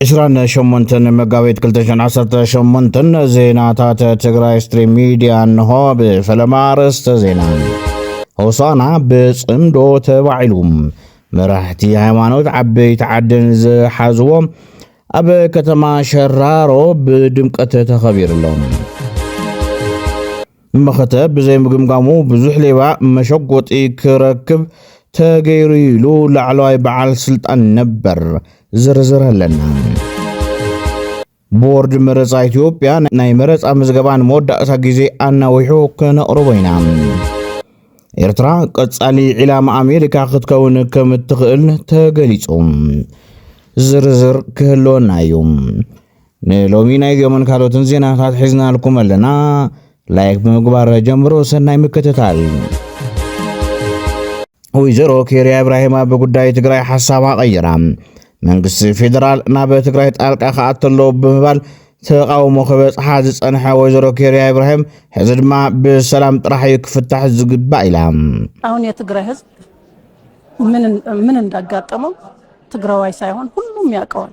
ዕስራን ሸሞንተን መጋቢት 218 ዜናታት ትግራይ ስትሪም ሚድያ እንሆ ብፈለማ ኣርእስተ ዜና ሆሳና ብፅምዶ ተባዒሉ መራሕቲ ሃይማኖት ዓበይቲ ዓድን ዝሓዝዎ ኣብ ከተማ ሸራሮ ብድምቀት ተኸቢሩ ኣሎ መኸተ ብዘይምግምጋሙ ብዙሕ ሌባ መሸጎጢ ክረክብ ተገይሩ ኢሉ ላዕለዋይ በዓል ስልጣን ነበር ዝርዝር ኣለና። ቦርድ መረፃ ኢትዮጵያ ናይ መረፃ ምዝገባ ንመወዳእታ ግዜ ኣናዊሑ ከነቕርቦ ኢና። ኤርትራ ቀጻሊ ዒላማ ኣሜሪካ ክትከውን ከም እትኽእል ተገሊጹ። ዝርዝር ክህልወና እዩ። ንሎሚ ናይዚኦምን ካልኦትን ዜናታት ሒዝናልኩም ኣለና። ላይክ ብምግባር ጀምሮ ሰናይ ምክትታል። ወይዘሮ ኬርያ ኢብራሂም ኣብ ጉዳይ ትግራይ ሓሳባ ቀይራ መንግስቲ ፌዴራል ናብ ትግራይ ጣልቃ ክኣቱ ኣለዎ ብምባል ተቓውሞ ክበጽሓ ዝጸንሐ ወይዘሮ ኬርያ ኢብራሂም ሕዚ ድማ ብሰላም ጥራሕ እዩ ክፍታሕ ዝግባእ ኢላ። አሁን የትግራይ ህዝብ ምን እንዳጋጠመው ትግራዋይ ሳይሆን ሁሉም ያውቀዋል።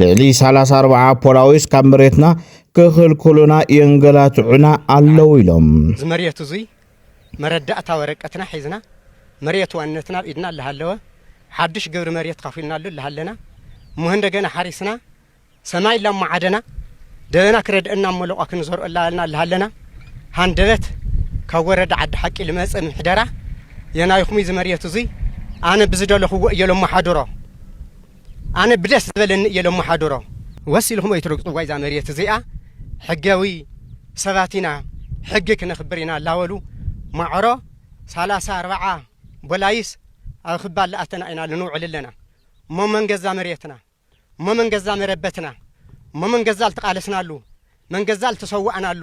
ልዕሊ ሰላሳ ኣርብዓ ፖላዊስ ካብ መሬትና ክኽልኩሉና የንገላትዑና ኣለዉ ኢሎም። እዚ መሬት እዙይ መረዳእታ ወረቀትና ሒዝና መሬት ዋንነትና ኣብ ኢድና እላሃለወ ሓዱሽ ግብሪ መሬት ኻፊልናሉ እላሃለና እሞ እንደገና ሓሪስና ሰማይ እላማዓደና ደበና ክረድአና እሞ ለቋ ክንዘርኦ እላበልና እላሃለና ሃንደበት ካብ ወረዳ ዓዲ ሓቂ ልመፀ ምሕደራ የናይኹም እዚ መሬት እዙይ ኣነ ብዝደለኹዎ እየ ለማሓድሮ ኣነ ብደስ ዝበለኒ እየ ለማሓድሮ ወስ ኢልኩም ኣይትረግፅዋ እዛ መሬት እዚኣ ሕጋዊ ሰባት ኢና ሕጊ ክነኽብር ኢና ላበሉ ማዕሮ ሰላሳ ኣርባዓ ቦላይስ ኣብ ክባ ላኣተና ኢና ልንውዕል ኣለና እሞ መን ገዛ መሬትና እሞ መን ገዛ መረበትና እሞ መን ገዛ ልተቓለስናሉ መን ገዛ ልተሰዋእናሉ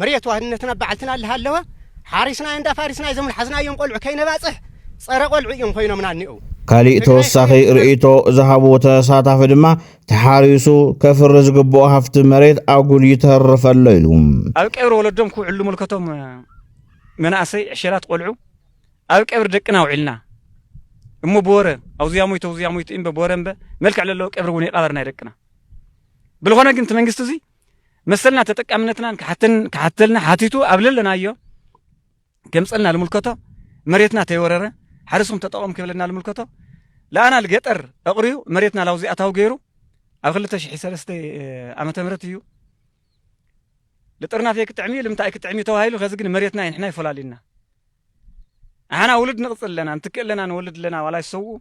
መሬት ዋህድነትን ኣብ በዓልትና ልሃለወ ሓሪስናዮ እንዳ ፋሪስናዮ እዞም ልሓዝናዮም ቆልዑ ከይነባጽሕ ጸረ ቆልዑ እዮም ኮይኖምና እኒኦው። ካሊእ ተወሳኺ ርእይቶ ዝሃቡ ተሳታፊ ድማ ተሓሪሱ ከፍሪ ዝግብኦ ሃፍቲ መሬት ኣጉል ይተርፍ ኣሎ ኢሉ ኣብ ቀብሪ ወለዶም ክውዕሉ ምልከቶም መናእሰይ ዕሸላት ቆልዑ ኣብ ቀብሪ ደቅና ውዒልና እሞ ብወረ ኣውዚያ ሞይቶ ኣውዚያ ሞይቶ እምበ ብወረ እምበ መልክዕ ለለዎ ቀብሪ እውን ይቃበር ናይ ደቅና ብልኾነ ግን እቲ መንግስቲ እዚ መሰልና ተጠቃምነትናን ክሓተን ክሓተልና ሓቲቱ ኣብ ለለናዮ ገምፀልና ልምልከቶ መሬትና ተይወረረ ሓረስኩም ተጠቐሙ ክብለና ልምልከቶ ለኣና ልገጠር ኣቕርዩ መሬትና ላውዚ ኣታዊ ገይሩ ኣብ 2003 ዓመተ ምህረት እዩ ልጥርናፍ ክጥዕሚ እዩ ልምንታይ ክጥዕሚ ተባሂሉ ከዚ ግን መሬትና ንሕና ይፈላልዩና ኣሓና ውሉድ ንቕፅል ኣለና ንትክእ ኣለና ንወልድ ኣለና ዋላ ይሰውኡ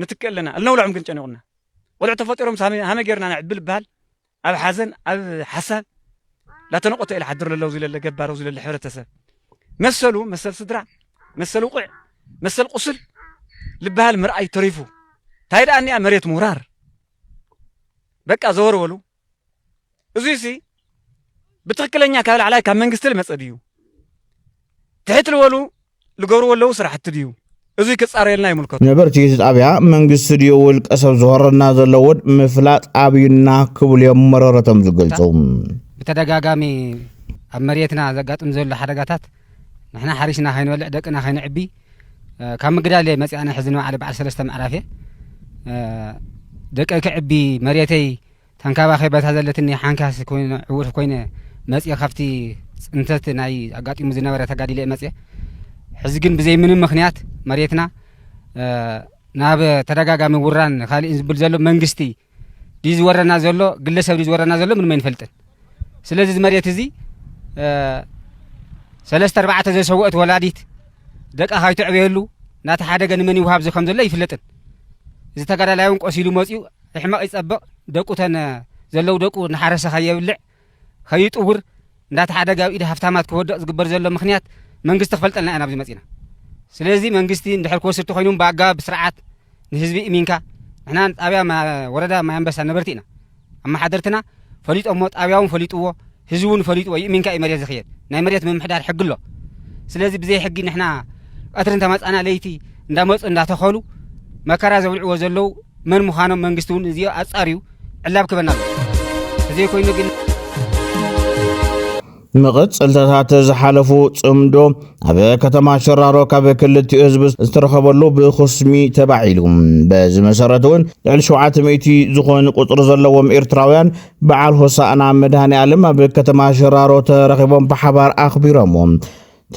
ንትክእ ኣለና እልነውልዖም ግን ጨኒቑና ቆልዑ ተፈጢሮም ሃመ ጌርና ነዕብል ይበሃል ኣብ ሓዘን ኣብ ሓሳብ ላተነቆተ ኢለ ሓድር ለለው ዝለለ ገባረው ዝለለ ሕብረተሰብ መሰሉ መሰል ስድራ መሰል ውቕዕ መሰል ቁስል ልበሃል ምርኣይ ተሪፉ እንታይ ደኣ እኒኣ መሬት ምውራር በቃ ዘወርወሉ እዙይ ሲ ብትክክለኛ ካብ ላዕላይ ካብ መንግስቲ ልመፀ ድዩ ትሕት ልበሉ ልገብርዎ ለዉ ስራሕቲ ድዩ እዙይ ክፃረየልና ይምልከቶ። ነበርቲ እቲ ጣብያ መንግስቲ ድዩ ውልቀ ሰብ ዝሆረና ዘሎ እውን ምፍላጥ ኣብዩና ክብሉ እዮም መረረቶም ዝገልፁ። ብተደጋጋሚ ኣብ መሬትና ዘጋጥም ዘሎ ሓደጋታት ንሕና ሓሪስና ከይንበልዕ ደቅና ከይንዕቢ ካብ ምግዳል እየ መፅኣነ ሕዚ ንባዕለ በዓል ሰለስተ ምዕራፍ እየ ደቀይ ክዕቢ መሬተይ ተንካባኸይ በታ ዘለትኒ ሓንካስ ኮይነ ዕውር ኮይነ መጽየ ካብቲ ጽንተት ናይ ኣጋጢሙ ዝነበረ ተጋዲለ መጽየ ሕዚ ግን ብዘይ ምንም ምክንያት መሬትና ናብ ተደጋጋሚ ውራን ካልእን ዝብል ዘሎ መንግስቲ ድዩ ዝወረና ዘሎ ግለሰብ ድዩ ዝወረና ዘሎ ምንም ኣይንፈልጥን ስለዚ እዚ መሬት እዚ ሰለስተ ኣርባዕተ ዘሰወእት ወላዲት ደቃ ካይትዕበየሉ ናቲ ሓደገ ንመን ይውሃብ እዚ ከም ዘሎ ኣይፍለጥን እዚ ተጋዳላይ እውን ቆሲሉ መፅኡ ሕመቕ ይጸብቕ ደቁ ተን ዘለው ደቁ እናሓረሰ ከየብልዕ ከይጥውር እንዳተሓደገ ኣብ ኢድ ሃፍታማት ክወድቕ ዝግበር ዘሎ ምክንያት መንግስቲ ክፈልጠልና ኢና ኣብዚ መጺና ስለዚ መንግስቲ እንድሕር ክወስድ ተኾይኑ ብኣገባብ ብስርዓት ንህዝቢ እሚንካ ንሕና ጣብያ ወረዳ ማይ ኣንበሳ ነበርቲ ኢና ኣመሓደርትና ፈሊጦሞ ጣብያውን ፈሊጥዎ ህዝቢ እውን ፈሊጥዎ ይእሚንካ እዩ መሬት ዝኽየድ ናይ መሬት ምምሕዳር ሕጊ ኣሎ ስለዚ ብዘይ ሕጊ ንሕና ቀትሪ እንተመፃና ለይቲ እንዳመፁ እንዳተኸሉ መከራ ዘብልዕዎ ዘለው መን ምዃኖም መንግስቲ እውን እዚኦ ኣፃርዩ ዕላብ ክበና ኣሎ እዘይ ኮይኑ ግን መቐፀልታታት ዝሓለፉ ፅምዶ ኣብ ከተማ ሸራሮ ካብ ክልቲኡ ህዝቢ ዝተረኸበሉ ብኹስሚ ተባዒሉ በዚ መሰረት እውን ልዕሊ 700 ዝኾኑ ቁፅሪ ዘለዎም ኤርትራውያን በዓል ሆሳእና መድሃኒኣለም ኣብ ከተማ ሽራሮ ተረኺቦም ብሓባር ኣኽቢሮምዎ።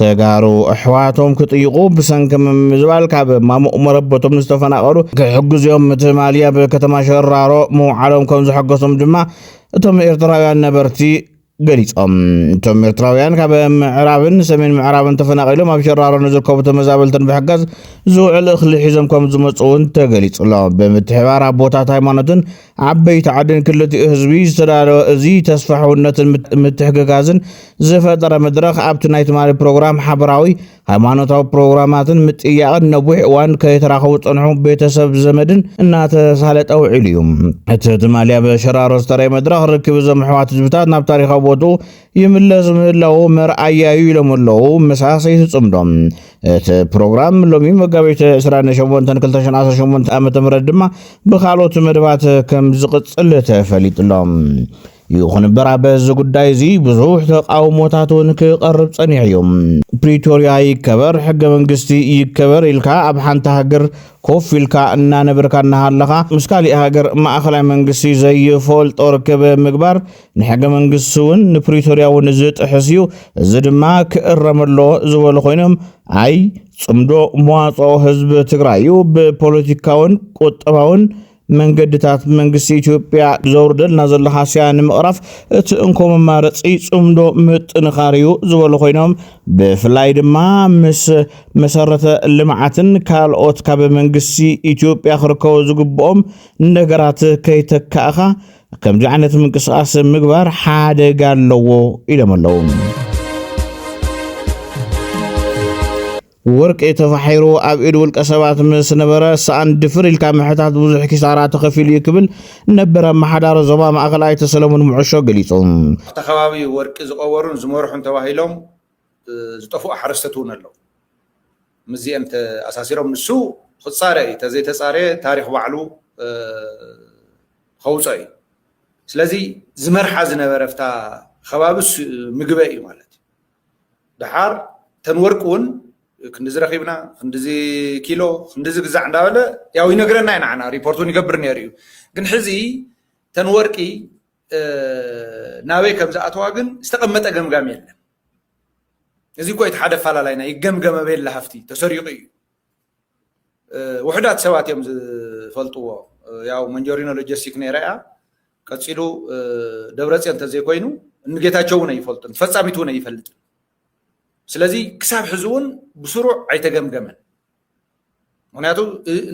ተጋሩ ኣሕዋቶም ክጥይቑ ብሰንኪ ምምዝባል ካብ ማሙቕ መረበቶም ዝተፈናቐሉ ክሕግዝዮም ምትማሊ ኣብ ከተማ ሸራሮ ምውዓሎም ከም ዘሐገሶም ድማ እቶም ኤርትራውያን ነበርቲ ገሊጾም። እቶም ኤርትራውያን ካብ ምዕራብን ሰሜን ምዕራብን ተፈናቒሎም ኣብ ሸራሮ ንዝርከቡ ተመዛበልትን ብሕጋዝ ዝውዕል እኽሊ ሒዞም ከም ዝመፁ እውን ተገሊጹ ኣሎ። ብምትሕባር ኣቦታት ሃይማኖትን ዓበይቲ ዓድን ክልቲኡ ህዝቢ ዝተዳለወ እዚ ተስፋ ሕውነትን ምትሕግጋዝን ዝፈጠረ መድረኽ ኣብቲ ናይ ትማሊ ፕሮግራም ሓበራዊ ሃይማኖታዊ ፕሮግራማትን ምጥያቕን ነዊሕ እዋን ከይተራኸቡ ዝፀንሑ ቤተሰብ ዘመድን እናተሳለጠ ውዒሉ እዩ። እቲ ትማሊ ኣብ ሸራሮ ዝተረየ መድረኽ ርክብ እዞም ኣሕዋት ህዝብታት ናብ ታሪኻዊ ቦትኡ ይምለስ ምህላዉ መርኣያ'ዩ ኢሎም ኣለዉ መሳሰይ ትጽምዶ። እቲ ፕሮግራም ሎሚ መጋቢት 28 2018 ዓ.ም ድማ ብካልኦት መደባት ከም ዝቕጽል ተፈሊጡ'ሎ። ይኹን እምበር ኣብ እዚ ጉዳይ እዚ ብዙሕ ተቓውሞታት እውን ክቐርብ ጸኒሑ እዩ። ፕሪቶርያ ይከበር፣ ሕገ መንግስቲ ይከበር ኢልካ ኣብ ሓንቲ ሃገር ኮፍ ኢልካ እናነበርካ እናሃለኻ ምስ ካሊእ ሃገር ማእኸላይ መንግስቲ ዘይፈልጦ ርክብ ምግባር ንሕገ መንግስቲ እውን ንፕሪቶርያ እውን ዝጥሕስ እዩ፣ እዚ ድማ ክእረም ኣለዎ ዝበሉ ኮይኖም ኣይ ጽምዶ መዋጽኦ ህዝቢ ትግራይ እዩ ብፖለቲካውን ቁጠባውን መንገድታት መንግስቲ ኢትዮጵያ ዘውርደልና ዘሎ ሃስያ ንምቕራፍ እቲ እንኮ መማረፂ ፅምዶ ምጥንኻር እዩ ዝበሉ ኮይኖም ብፍላይ ድማ ምስ መሰረተ ልምዓትን ካልኦት ካብ መንግስቲ ኢትዮጵያ ክርከቡ ዝግብኦም ነገራት ከይተካእኻ ከምዚ ዓይነት ምንቅስቓስ ምግባር ሓደጋ ኣለዎ ኢሎም ኣለዉ። ወርቂ ተፋሒሩ ኣብ ኢድ ውልቀ ሰባት ምስ ነበረ ሰኣን ድፍር ኢልካ ምሕታት ብዙሕ ኪሳራ ተኸፊሉ እዩ ክብል ነበር ኣመሓዳሪ ዞባ ማእኸል ኣይተ ሰለሙን ምዑሾ ገሊፁ። ኣብቲ ከባቢ ወርቂ ዝቐበሩን ዝመርሑን ተባሂሎም ዝጠፍኡ ሓረስቶት እውን ኣለዉ። ምስዚኤን ተኣሳሲሮም ንሱ ክፃረ እዩ ተዘይተፃረየ ታሪኽ ባዕሉ ኸውፀኦ እዩ ስለዚ ዝመርሓ ዝነበረ ፍታ ኸባቢ ምግበ እዩ ማለት እዩ ደሓር ተን ወርቂ እውን ክንዲዚ ረኺብና ክንዲዚ ኪሎ ክንዲዚ ግዛዕ እንዳበለ ያው ይነግረና እዩ ንዓና ሪፖርት እውን ይገብር ነይሩ እዩ ግን ሕዚ ተን ወርቂ ናበይ ከም ዝኣተዋ ግን ዝተቐመጠ ገምጋም የለን እዚ እኮ እቲ ሓደ ኣፈላላይና ይገምገመ በየላ ሃፍቲ ተሰሪቑ እዩ ውሑዳት ሰባት እዮም ዝፈልጥዎ ያው መንጆሪኖ ሎጂስቲክ ነይራ እያ ቀፂሉ ደብረፅዮን እንተዘይኮይኑ እንጌታቸው እውን ኣይፈልጡን ፈፃሚት እውን ኣይፈልጥን ስለዚ ክሳብ ሕዚ እውን ብስሩዕ ኣይተገምገመን ምክንያቱ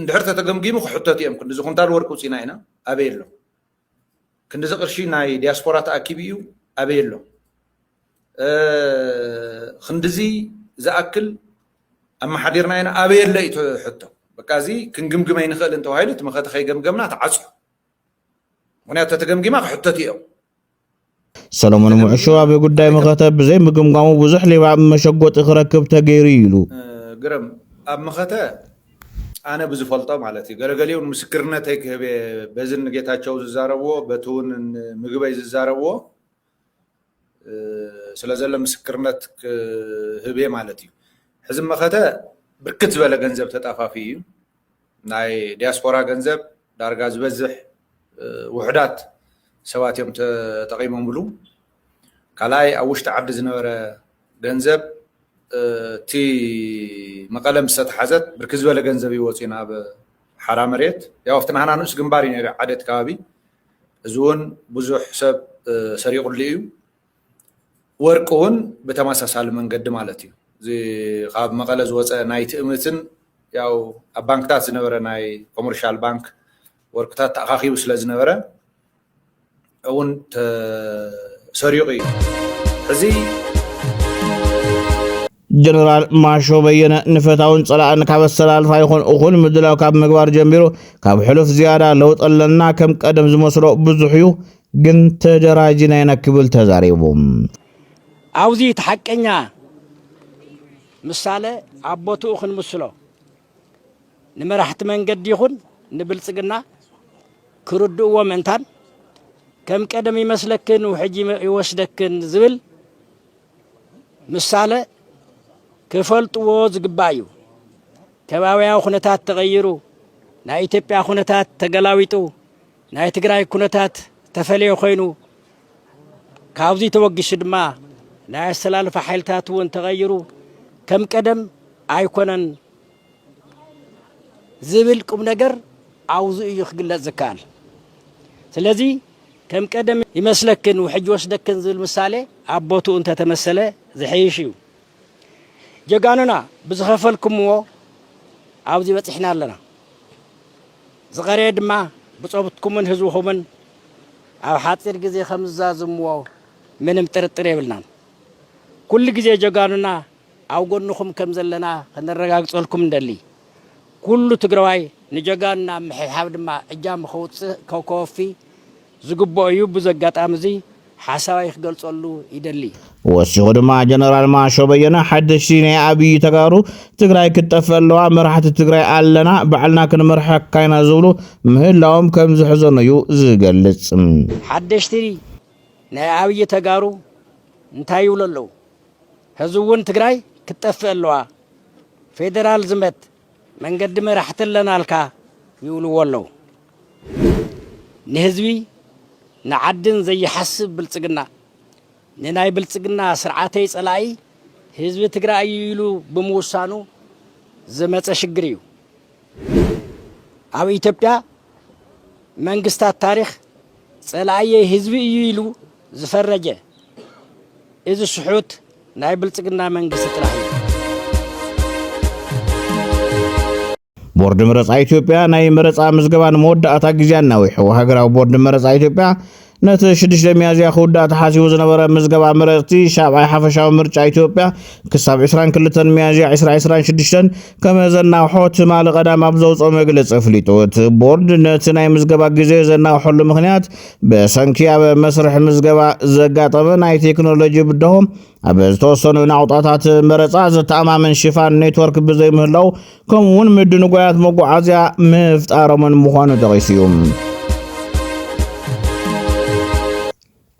እንድሕር ተተገምጊሙ ክሕተቱ እዮም ክንዲ ዝኩንታል ወርቂ ውፅኢና ኢና ኣበይ ኣሎ ክንድዚ ቅርሺ ናይ ዲያስፖራ ተኣኪቡ እዩ ኣበይ ኣሎ? ክንድዚ ዝኣክል ኣመሓዲርና ኢና ኣበይ ኣሎ እዩ እቲ ሕቶ። በቃ እዚ ክንግምግም ኣይንኽእልን ተባሂሉ እቲ መኸተ ከይገምገምና ተዓፅዩ። ምኽንያቱ ተተገምጊማ ክሕተቱ እዮም። ሰሎሞን ሙዕሾ ኣብ ጉዳይ መኸተ ብዘይ ምግምጋሙ ብዙሕ ሌባ መሸጎጢ ክረክብ ተገይሩ እዩ ኢሉ። ግርም ኣብ መኸተ ኣነ ብዝፈልጦ ማለት እዩ ገለገሊኡ ምስክርነተይ ክህብ እየ በዚ ንጌታቸው ዝዛረብዎ በቲ እውን ምግበይ ዝዛረብዎ ስለ ዘሎ ምስክርነት ክህብ እየ ማለት እዩ ሕዚ መኸተ ብርክት ዝበለ ገንዘብ ተጣፋፊ እዩ ናይ ዲያስፖራ ገንዘብ ዳርጋ ዝበዝሕ ውሑዳት ሰባት እዮም ተጠቒሞምሉ። ካልኣይ ኣብ ውሽጢ ዓዲ ዝነበረ ገንዘብ እቲ መቐለ ምስ ተተሓዘት ብርክት ዝበለ ገንዘብ እዩ ወፂኡ ናብ ሓራ መሬት። ያው ኣብቲ ናህና ንኡስ ግንባር እዩ ነይሩ ዓደት ከባቢ እዚ እውን ብዙሕ ሰብ ሰሪቑሉ እዩ። ወርቂ እውን ብተመሳሳሊ መንገዲ ማለት እዩ። እዚ ካብ መቐለ ዝወፀ ናይ ትእምትን ያው ኣብ ባንክታት ዝነበረ ናይ ኮመርሻል ባንክ ወርቅታት ተኣኻኺቡ ስለ ዝነበረ እውን ተሰሪቑ እዩ። ሕዚ ጀነራል ማሾ በየነ ንፈታውን ጸላእን ካብ ኣሰላልፋ ይኹን እኹል ምድላው ካብ ምግባር ጀሚሩ ካብ ሕሉፍ ዝያዳ ለውጢ ኣለና ከም ቀደም ዝመስሎ ብዙሕ እዩ ግን ተደራጅና ኢና ክብል ተዛሪቡ። ኣብዚ እቲ ሓቀኛ ምሳለ ኣብ ቦትኡ ክንምስሎ ንመራሕቲ መንገዲ ይኹን ንብልጽግና ክርድእዎ ምእንታን ከም ቀደም ይመስለክን ውሕጅ ይወስደክን ዝብል ምሳለ ክፈልጥዎ ዝግባእ እዩ። ከባቢያዊ ኩነታት ተቐይሩ፣ ናይ ኢትዮጵያ ኩነታት ተገላዊጡ፣ ናይ ትግራይ ኩነታት ተፈለየ ኮይኑ ካብዚ ተወጊሱ ድማ ናይ ኣሰላልፋ ሓይልታት እውን ተቐይሩ ከም ቀደም ኣይኮነን ዝብል ቁምነገር ኣውዙ እዩ ክግለጽ ዝከኣል። ስለዚ ከም ቀደም ይመስለክን ውሕጅ ይወስደክን ዝብል ምሳሌ ኣብ ቦትኡ እንተተመሰለ ዝሐይሽ እዩ። ጀጋኑና ብዝኸፈልኩምዎ ኣብዚ በጺሕና ኣለና። ዝቐረየ ድማ ብጾትኩምን ህዝብኹምን ኣብ ሓጺር ግዜ ከምዝዛዝምዎ ምንም ጥርጥር የብልናን። ኩሉ ግዜ ጀጋኑና ኣብ ጎንኹም ከም ዘለና ከነረጋግጸልኩም ንደሊ። ኩሉ ትግራዋይ ንጀጋኑና ኣብ ምሕብሓብ ድማ እጃሙ ከውጽእ ከወፊ ዝግበኦ እዩ። ብዚ ኣጋጣሚ እዚ ሓሳበይ ክገልጸሉ ይደሊ። ወሲኹ ድማ ጀነራል ማሾ በየነ ሓደሽቲ ናይ ኣብዪ ተጋሩ ትግራይ ክትጠፍእ ኣለዋ፣ መራሕቲ ትግራይ ኣለና፣ ባዕልና ክንመርሐካ ኢና ዝብሉ ምህላዎም ከም ዘሕዘኖ እዩ ዝገልጽ። ሓደሽቲ ናይ ኣብዪ ተጋሩ እንታይ ይብሉ ኣለዉ? ሐዚ እውን ትግራይ ክትጠፍእ ኣለዋ ፌደራል ዝመት መንገዲ መራሕቲ ኣለናልካ ይብልዎ ኣለው ንህዝቢ ንዓድን ዘይሓስብ ብልፅግና ንናይ ብልፅግና ስርዓተይ ፀላኢ ህዝቢ ትግራይ እዩ ኢሉ ብምውሳኑ ዝመፀ ሽግር እዩ ኣብ ኢትዮጵያ መንግስታት ታሪክ ፀላእየይ ህዝቢ እዩ ኢሉ ዝፈረጀ እዚ ስሑት ናይ ብልፅግና መንግስቲ ጥራሕ እዩ። ቦርድ መረፃ ኢትዮጵያ ናይ መረፃ ምዝገባ ንመወዳእታ ግዜ ኣናዊሑ። ሃገራዊ ቦርድ መረፃ ኢትዮጵያ ነቲ ሽዱሽተ ሚያዝያ ክውዳእ ተሓሲቡ ዝነበረ ምዝገባ መረፅቲ ሻብዓይ ሓፈሻዊ ምርጫ ኢትዮጵያ ክሳብ 22 ሚያዝያ 2026 ከም ዘናውሖ ትማሊ ቀዳም ኣብ ዘውፅኦ መግለፂ ኣፍሊጡ። እቲ ቦርድ ነቲ ናይ ምዝገባ ግዜ ዘናውሐሉ ምክንያት ብሰንኪ ኣብ መስርሕ ምዝገባ ዘጋጠመ ናይ ቴክኖሎጂ ብድሆ ኣብ ዝተወሰኑ ናቑጣታት መረፃ ዘተኣማምን ሽፋን ኔትወርክ ብዘይምህላው ከምኡ እውን ምድንጓያት መጓዓዝያ ምፍጣሮምን ምዃኑ ጠቒሱ እዩ።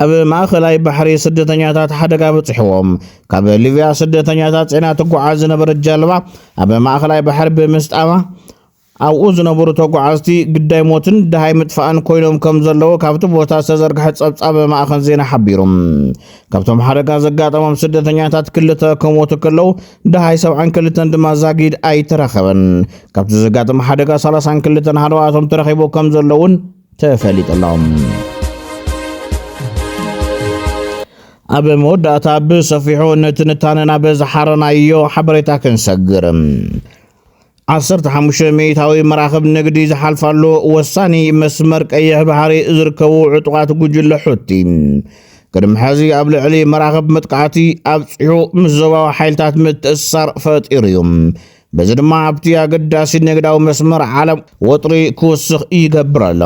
ኣብ ማእኸላይ ባሕሪ ስደተኛታት ሓደጋ በፂሕዎም ካብ ሊብያ ስደተኛታት ፅዕና ትጓዓዝ ዝነበረት ጃልባ ኣብ ማእኸላይ ባሕሪ ብምስጣማ ኣብኡ ዝነበሩ ተጓዓዝቲ ግዳይ ሞትን ድሃይ ምጥፋእን ኮይኖም ከም ዘለዉ ካብቲ ቦታ ዝተዘርግሐ ፀብፃብ ማእኸን ዜና ሓቢሩ። ካብቶም ሓደጋ ዘጋጠሞም ስደተኛታት ክልተ ከሞቱ ከለዉ ድሃይ ሰብዓን ክልተን ድማ ዛጊድ ኣይተረኸበን። ካብቲ ዘጋጠመ ሓደጋ ሰላሳን ክልተን ሃለዋቶም ተረኺቡ ከም ዘለዉን ተፈሊጡ ኣሎ። ኣብ መወዳእታ ብሰፊሑ ንትንታነ ናብ ዝሓረናዮ ሓበሬታ ክንሰግር ዓሰርተ ሓሙሽተ ሚእታዊ መራኽብ ንግዲ ዝሓልፋሉ ወሳኒ መስመር ቀይሕ ባሕሪ ዝርከቡ ዕጡቓት ጉጅለ ሑቲ ቅድሚ ሕዚ ኣብ ልዕሊ መራኽብ መጥቃዕቲ ኣብፂሑ ምስ ዞባዊ ሓይልታት ምትእስሳር ፈጢሩ እዩ በዚ ድማ ኣብቲ ኣገዳሲ ንግዳዊ መስመር ዓለም ወጥሪ ክውስኽ ይገብር ኣሎ።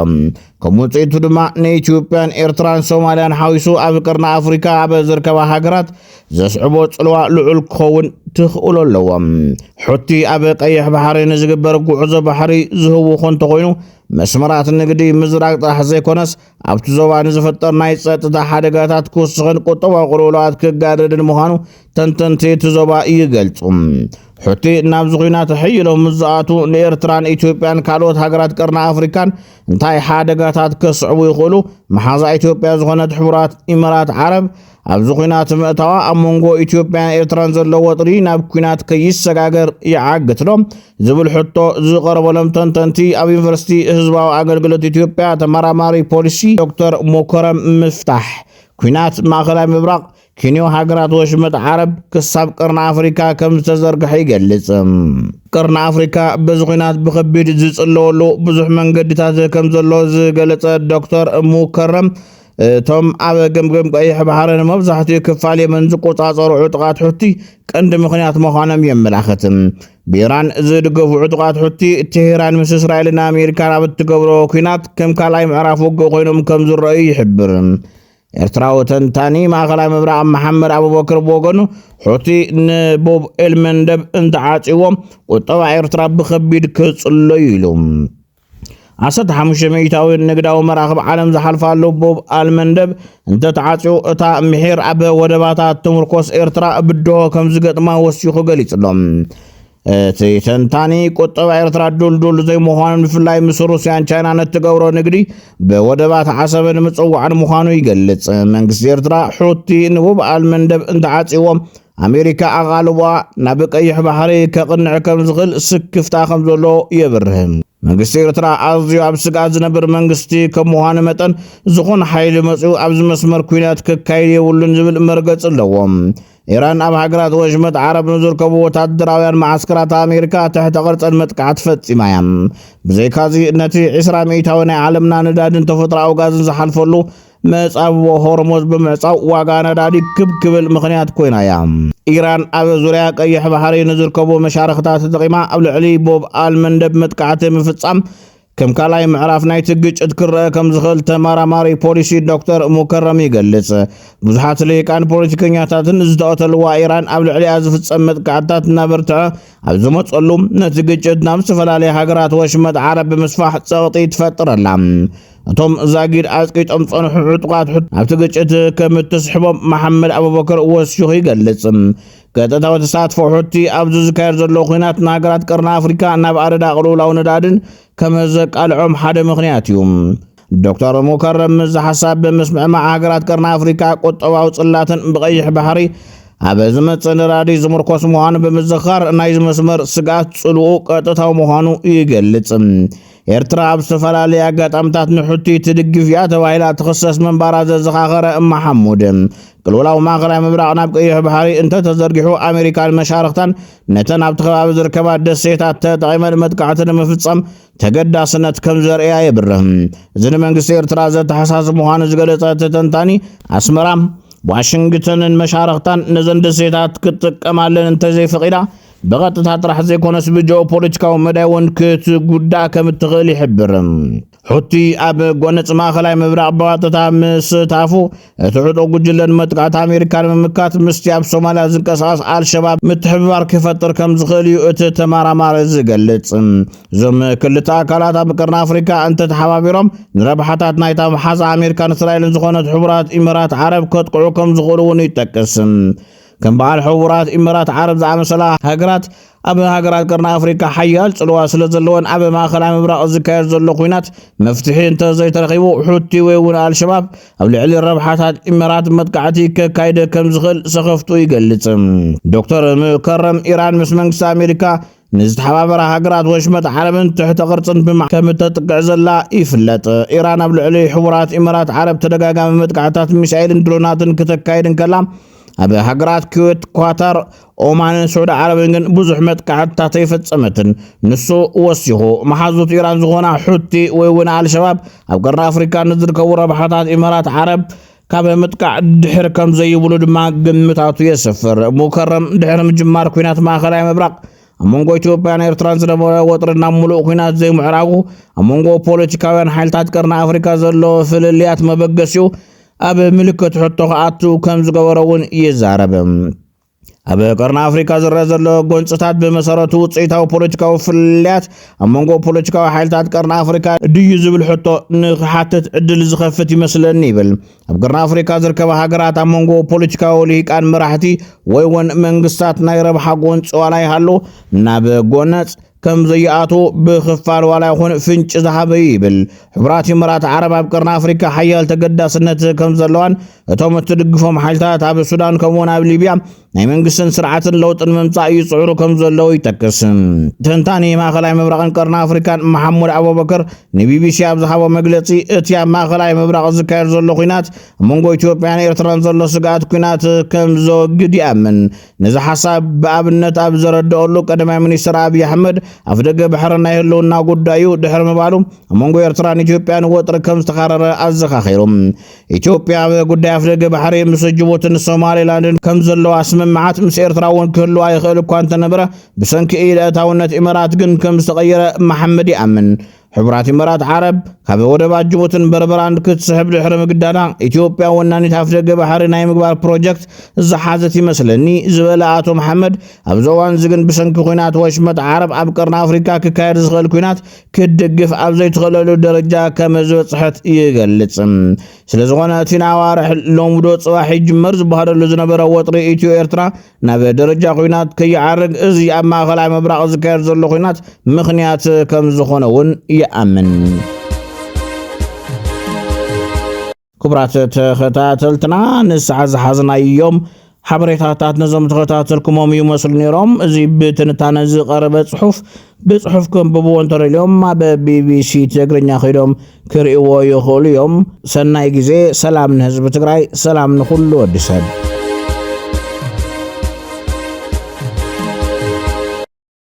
ከም ውፅኢቱ ድማ ንኢትዮጵያን ኤርትራን ሶማልያን ሓዊሱ ኣብ ቀርኒ ኣፍሪካ ኣብ ዝርከባ ሃገራት ዘስዕቦ ጽልዋ ልዑል ክኸውን ትኽእሎ ኣለዎ። ሑቲ ኣብ ቀይሕ ባሕሪ ንዝግበር ጉዕዞ ባሕሪ ዝህውኾ እንተኾይኑ መስመራት ንግዲ ምዝራግ ጥራሕ ዘይኮነስ ኣብቲ ዞባ ንዝፍጠር ናይ ጸጥታ ሓደጋታት ክውስኽን ቁጠባዊ ቅልውላዋት ክጋደድን ምዃኑ ተንተንቲ እቲ ዞባ ይገልጹ። ሑቲ ናብዚ ኲናት ሕይሎም ምስ ዝኣትዉ ንኤርትራን ኢትዮጵያን ካልኦት ሃገራት ቀርኒ ኣፍሪካን እንታይ ሓደጋታት ከስዕቡ ይኽእሉ? መሓዛ ኢትዮጵያ ዝኾነት ሕቡራት ኢመራት ዓረብ ኣብዚ ኲናት ምእታዋ ኣብ መንጎ ኢትዮጵያን ኤርትራን ዘሎ ወጥሪ ናብ ኲናት ከይሰጋገር ይዓግትዶ ዝብል ሕቶ ዝቐረበሎም ተንተንቲ ኣብ ዩኒቨርሲቲ ህዝባዊ ኣገልግሎት ኢትዮጵያ ተመራማሪ ፖሊሲ ዶክተር ሞከረም ምፍታሕ ኲናት ማእኸላይ ምብራቕ ኪንዮ ሃገራት ወሽመጥ ዓረብ ክሳብ ቅርኒ ኣፍሪካ ከም ዝተዘርግሐ ይገልጽ። ቅርኒ ኣፍሪካ በዚ ኹናት ብኸቢድ ዝጽለወሉ ብዙሕ መንገድታት ከም ዘሎ ዝገለጸ ዶክተር ሙከረም እቶም ኣብ ገምገም ቀይሕ ባሕሪ ንመብዛሕትኡ ክፋል የመን ዝቆጻጸሩ ዕጡቓት ሑቲ ቀንዲ ምኽንያት ምዃኖም የመላኽት። ብኢራን ዝድገፉ ዕጡቓት ሑቲ ቴሄራን ምስ እስራኤልን ኣሜሪካን ኣብ እትገብሮ ኩናት ከም ካልኣይ ምዕራፍ ውግእ ኮይኖም ከም ዝረኣዩ ይሕብር። ኤርትራዊ ተንታኒ ማእኸላይ ምብራቕ መሓመድ ኣቡበክር ብወገኑ ሑቲ ንቡብ ኤልመንደብ እንተዓጽዎ ቁጠባ ኤርትራ ብኸቢድ ክጽሎ ኢሉ። ዓሰርተ ሓሙሽተ ሚእታዊ ንግዳዊ መራኽብ ዓለም ዝሓልፋሉ ቦብ ኣልመንደብ እንተተዓፅዩ እታ ምሒር ኣብ ወደባታ ትምርኮስ ኤርትራ ብድሆ ከም ዝገጥማ ወሲኹ ገሊጹ ኣሎ። እቲ ተንታኒ ቁጠባ ኤርትራ ዱልዱል ዘይምዃኑን ብፍላይ ምስ ሩስያን ቻይናን እትገብሮ ንግዲ ብወደባት ዓሰበ ንምጽዋዕን ምዃኑ ይገልጽ። መንግስቲ ኤርትራ ሑቲ ንቡብ ኣልመንደብ እንተዓጽዎም ኣሜሪካ ኣቓልቧ ናብ ቀይሕ ባሕሪ ከቕንዕ ከም ዝኽእል ስክፍታ ከም ዘሎ የብርህ። መንግስቲ ኤርትራ ኣዝዩ ኣብ ስግኣት ዝነብር መንግስቲ ከም ምዃኑ መጠን ዝኾነ ሓይሊ መጺኡ ኣብዚ መስመር ኲናት ከካይድ የብሉን ዝብል መርገጺ ኣለዎ። ኢራን ኣብ ሃገራት ወሽመጥ ዓረብ ንዝርከቡ ወታደራውያን መዓስከራት ኣሜሪካ ትሕተ ቅርጽን መጥቃዕቲ ፈጺማ እያ። ብዘይካዚ ነቲ ዕስራ ሚእታዊ ናይ ዓለምና ነዳድን ተፈጥሮኣዊ ጋዝን ዝሓልፈሉ መጻብቦ ሆርሞዝ ብምዕጻው ዋጋ ነዳዲ ክብ ክብል ምኽንያት ኮይና እያ። ኢራን ኣብ ዙርያ ቀይሕ ባሕሪ ንዝርከቡ መሻርኽታ ተጠቒማ ኣብ ልዕሊ ቦብ ኣልመንደብ መጥቃዕቲ ምፍጻም ከም ካልኣይ ምዕራፍ ናይቲ ግጭት ክረአ ከም ዝኽእል ተመራማሪ ፖሊሲ ዶክተር ሙከረም ይገልጽ። ብዙሓት ልሂቃን ፖለቲከኛታትን ዝተቐተልዋ ኢራን ኣብ ልዕሊኣ ዝፍጸም መጥቃዕትታት እናበርትዐ ኣብ ዝመጸሉ ነቲ ግጭት ናብ ዝተፈላለየ ሃገራት ወሽመጥ ዓረብ ብምስፋሕ ጸቕጢ ትፈጥር ኣላ። እቶም ዛጊድ ኣጽቂጦም ዝጸንሑ ዕጡቓት ሕቶ ኣብቲ ግጭት ከም እትስሕቦም መሓመድ ኣቡበከር ወሲኹ ይገልጽ። ቀጥታዊ ተሳትፎ ሑቲ ኣብዚ ዝካየድ ዘሎ ኩናት ንሃገራት ቀርኒ ኣፍሪካ ናብ ኣደዳ ቅልውላው ነዳድን ከም ዘቃልዖም ሓደ ምክንያት እዩ። ዶክተር ሙከረም እዚ ሓሳብ ብምስምዕማዕ ሃገራት ቀርኒ ኣፍሪካ ቁጠባዊ ጽላትን ብቀይሕ ባሕሪ ኣብ ዝመጽእ ነዳዲ ዝምርኮስ ምዃኑ ብምዝኻር ናይዚ መስመር ስግኣት ጽልኡ ቀጥታዊ ምዃኑ ይገልጽ። ኤርትራ ኣብ ዝተፈላለየ ኣጋጣምታት ንሑቲ ትድግፍ እያ ተባሂላ ትኽሰስ ምንባራ ዘዘኻኸረ መሓሙድ ቅልውላው ማእኸላይ ምብራቕ ናብ ቀይሕ ባሕሪ እንተተዘርጊሑ ኣሜሪካን መሻርኽታን ነተን ኣብቲ ከባቢ ዝርከባ ደሴታት ተጠቒመን መጥቃዕቲ ንምፍጻም ተገዳስነት ከም ዘርእያ የብርህ እዚ ንመንግስቲ ኤርትራ ዘተሓሳስብ ምዃኑ ዝገለጸ ተተንታኒ ኣስመራ ዋሽንግተንን መሻርኽታን ነዘን ደሴታት ክትጥቀማለን እንተዘይፈቒዳ ብቐጥታ ጥራሕ ዘይኮነስ ብጂኦፖለቲካዊ መዳይ እውን ክትጉዳእ ከም እትኽእል ይሕብር። ሑቲ ኣብ ጎነጽ ማእከላይ ምብራቕ ብቐጥታ ምስታፉ እቲ ዕጡቕ ጉጅለ ንመጥቃዕቲ ኣሜሪካ ንምምካት ምስቲ ኣብ ሶማልያ ዝንቀሳቐስ ኣልሸባብ ምትሕብባር ክፈጥር ከም ዝኽእል እዩ እቲ ተመራማሪ ዝገልጽ። እዞም ክልተ ኣካላት ኣብ ቀርኒ ኣፍሪካ እንተተሓባቢሮም ንረብሓታት ናይታ መሓዛ ኣሜሪካን እስራኤልን ዝኾነት ሕቡራት ኢመራት ዓረብ ከጥቅዑ ከም ዝኽእሉ እውን ይጠቅስ። ከም በዓል ሕቡራት ኢመራት ዓረብ ዝኣመሰላ ሃገራት ኣብ ሃገራት ቀርኒ ኣፍሪካ ሓያል ፅልዋ ስለ ዘለወን ኣብ ማእኸላይ ምብራቕ ዝካየድ ዘሎ ኩናት መፍትሒ እንተዘይተረኺቡ ሑቲ ወይ እውን ኣልሸባብ ኣብ ልዕሊ ረብሓታት ኢመራት መጥቃዕቲ ከካይደ ከም ዝኽእል ሰኸፍቱ ይገልፅ። ዶክተር ሙከረም ኢራን ምስ መንግስቲ ኣሜሪካ ንዝተሓባበራ ሃገራት ወሽመጥ ዓረብን ትሕተ ቅርጽን ብማዕከም እተጥቅዕ ዘላ ይፍለጥ። ኢራን ኣብ ልዕሊ ሕቡራት ኢመራት ዓረብ ተደጋጋሚ መጥቃዕታት ሚሳኤልን ድሮናትን ክተካይድ እንከላ ኣብ ሃገራት ኩዌት፣ ኳታር፣ ኦማንን ስዑዲ ዓረብን ግን ብዙሕ መጥቃዕትታት ኣይፈጸመትን። ንሱ ወሲኹ መሓዙት ኢራን ዝኾና ሑቲ ወይ እውን ኣልሸባብ ኣብ ቀርኒ ኣፍሪካ ንዝርከቡ ረብሓታት ኢመራት ዓረብ ካብ ምጥቃዕ ድሕር ከም ዘይብሉ ድማ ግምታቱ የስፍር። ሙከረም ድሕሪ ምጅማር ኩናት ማእከላይ ምብራቕ ኣብ መንጎ ኢትዮጵያን ኤርትራን ዝነበረ ወጥሪ ናብ ምሉእ ኩናት ዘይምዕራጉ ኣብ መንጎ ፖለቲካውያን ሓይልታት ቀርኒ ኣፍሪካ ዘሎ ፍልልያት መበገሲኡ ኣብ ምልክት ሕቶ ክኣቱ ከም ዝገበሮ እውን ይዛረብ። ኣብ ቀርኒ ኣፍሪካ ዝረአ ዘሎ ጎንፅታት ብመሰረቱ ውፅኢታዊ ፖለቲካዊ ፍልልያት ኣብ መንጎ ፖለቲካዊ ሓይልታት ቀርኒ ኣፍሪካ ድዩ ዝብል ሕቶ ንክሓትት ዕድል ዝኸፍት ይመስለኒ ይብል። ኣብ ቀርኒ ኣፍሪካ ዝርከባ ሃገራት ኣብ መንጎ ፖለቲካዊ ልሂቃን መራሕቲ ወይ እውን መንግስታት ናይ ረብሓ ጎንፂ ዋላ ይሃሉ ናብ ጎነፅ ከም ዘይኣትዎ ብኽፋል ዋላ ይኹን ፍንጭ ዝሃበ እዩ ይብል። ሕቡራት ኢመራት ዓረብ ኣብ ቀርኒ ኣፍሪካ ሓያል ተገዳስነት ከም ዘለዋን እቶም እትድግፎም ሓይልታት ኣብ ሱዳን ከምኡውን ኣብ ሊብያ ናይ መንግስትን ስርዓትን ለውጢ ንምምፃእ ይፅዕሩ ከም ዘለዉ ይጠቅስ። ተንታኒ ማእኸላይ ምብራቕን ቀርኒ ኣፍሪካን መሓሙድ ኣቡበከር ንቢቢሲ ኣብ ዝሃቦ መግለፂ እቲ ኣብ ማእኸላይ ምብራቕ ዝካየድ ዘሎ ኩናት ኣብ መንጎ ኢትዮጵያን ኤርትራን ዘሎ ስግኣት ኩናት ከም ዘወግድ ይኣምን። ነዚ ሓሳብ ብኣብነት ኣብ ዘረድኦሉ ቀዳማይ ሚኒስትር ኣብዪ ኣሕመድ ኣፍደገ ባሕሪ ናይ ህልውና ጉዳይ እዩ ድሕሪ ምባሉ ኣብ መንጎ ኤርትራን ኢትዮጵያን ወጥሪ ከም ዝተኻረረ ኣዘኻኺሩ ኢትዮጵያ ኣብ ጉዳይ ኣፍደገ ባሕሪ ምስ ጅቡትን ሶማሌላንድን ከም ዘለዋ ስምምዓት ምስ ኤርትራ እውን ክህልዋ ይኽእል እኳ እንተነበረ ብሰንኪ ኢድ ኣእታውነት ኢመራት ግን ከም ዝተቐየረ መሓመድ ይኣምን ሕቡራት ኢመራት ዓረብ ካብ ወደባት ጅቡትን በርበራን ክትስሕብ ድሕሪ ምግዳዳ ኢትዮጵያ ወናኒት ኣፍደገ ባሕሪ ናይ ምግባር ፕሮጀክት ዝሓዘት ይመስለኒ ዝበለ ኣቶ መሓመድ ኣብዚ እዋን እዚ ግን ብሰንኪ ኩናት ወሽመጥ ዓረብ ኣብ ቀርኒ ኣፍሪካ ክካየድ ዝኽእል ኩናት ክትድግፍ ኣብ ዘይትኽእለሉ ደረጃ ከም ዝበፅሐት ይገልፅ። ስለዝኾነ እቲ ንኣዋርሕ ሎምዶ ፅባሕ ይጅመር ዝበሃለሉ ዝነበረ ወጥሪ ኢትዮ ኤርትራ ናብ ደረጃ ኩናት ከይዓርግ እዚ ኣብ ማእኸላይ ምብራቕ ዝካየድ ዘሎ ኩናት ምኽንያት ከም ዝኾነ እውን ይኣምን። ክቡራት ተኸታተልትና ንስዓ ዝሓዝናዮም ሓበሬታታት ነዞም ተኸታተልኩሞም እዩ መስሉ ነይሮም እዚ ብትንታነ ዝቐረበ ጽሑፍ ብጽሑፍ ክንብብዎ እንተደልዮም ኣብ ቢቢሲ ትግርኛ ኸይዶም ክርእዎ ይኽእሉ እዮም። ሰናይ ግዜ፣ ሰላም ንህዝቢ ትግራይ፣ ሰላም ንኹሉ ወዲ ሰብ።